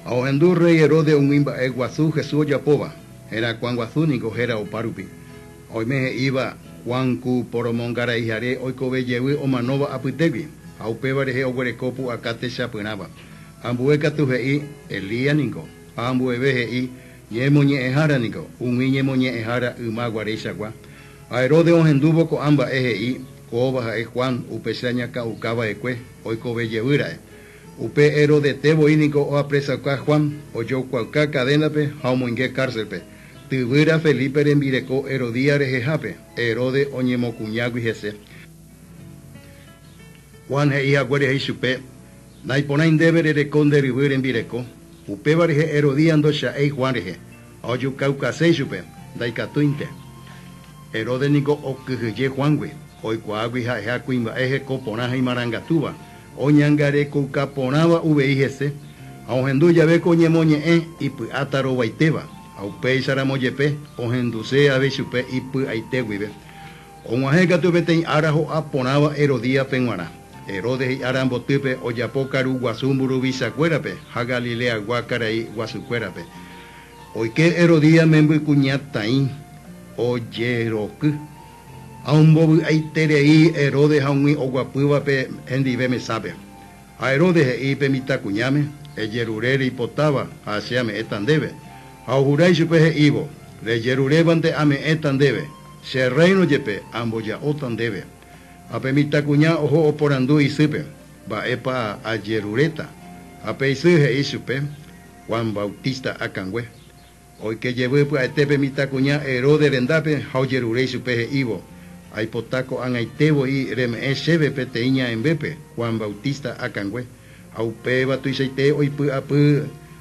Ha ohendu rréi Heródes umi mba'e guasu Jesús ojapóva, herakuã guasu ningo héra opárupi, ha oime he'íva, Juan ku poromongaraihare oikove jevy omanóva apytégui, ha upéva rehe oguereko pu'aka techapyrãva. Ambue katu he'i, Elías ningo, ha ambueve he'i, Ñemoñe'ẽhára ningo, umi ñemoñe'ẽhára yma guaréichagua. Ha Heródes ohendúvo ko'ã mba'e he'i, Kóva ha'e Juan, upecha ñakã'ukava'ekue, oikove jevýra'e. Upe Herodete voi niko oapresauka Juan, ojoykuauka kadénape ha omoinge kárselpe. Tyvýra Felipe rembireko Herodías rehehápe, Herode oñemokuñágui hese. Juan he'i haguére he'i chupe, Naiporãi ndéve rereko nde ryvy rembireko. Upéva rehe Herodías ndocha'éi Juan rehe, ha ojukaukase ichupe, Ndaikatúinte. Herode niko okyhyje Juángui, oikuaágui ha'eha kuimba'e heko porã ha imarangatúva. Oñangarekouka porãva uvei hese, ha ohendu jave ko ñemoñe'ẽ ipy'áta rovaitéva, ha upéicha ramo jepe ohenduse avei chupe ipy'aite guive. Og̃uahẽ katu peteĩ ára ho'a porãva Herodíape g̃uarã. Herodes hi'a rambotýpe ojapo karu guasu mburuvicha kuérape ha Galileagua karai guasu kuérape. Oike Herodías membykuña taĩ ojeroky. Ha ombovy'aiterei Herodes ha umi oguapývape hendive mesápe. Ha Herodes he'i pe mitãkuñáme, Ejerure reipotáva ha che ame'ẽta ndéve. Ha ohura ichupe he'ívo, Rejerurévante ame'ẽta ndéve, che rréino jepe amboja'óta ndéve. Ha pe mitãkuña oho oporandu isýpe, Mba'épa ajeruréta? Ha pe isy he'i chupe, Juan Bautista akãngue. Oike jevy pya'ete pe mitãkuña Heródes rendápe ha ojerure ichupe he'ívo, Aipota ko'ag̃aite voi reme'ẽ chéve peteĩ ñaẽmbépe, Juan Bautista akãngue. Ha upéva tuichaite oipy'apy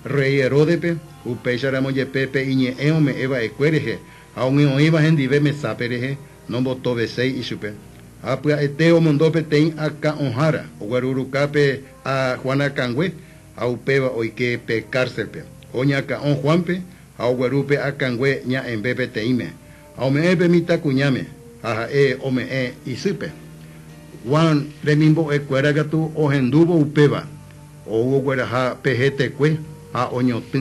rréi Heródepe, upéicharamo jepe pe iñe'ẽ ome'ẽ va'ekue rehe ha ogue oĩva hendive mesápe rehe, nombotoveséi ichupe. Ha pya'ete omondo peteĩ akã'õhára ogueruruka pe Juan akãngue ha upéva oike pe kárselpe. Oñakã'o Juánpe ha ogueru pe akãngue ña'ẽmbe peteĩme, ha ome'ẽ pe mitãkuñáme, ha ha'e ome'ẽ isýpe. Juan remimbo'e kuéra katu ohendúvo upéva, ou ogueraha pe hetekue ha oñotỹ.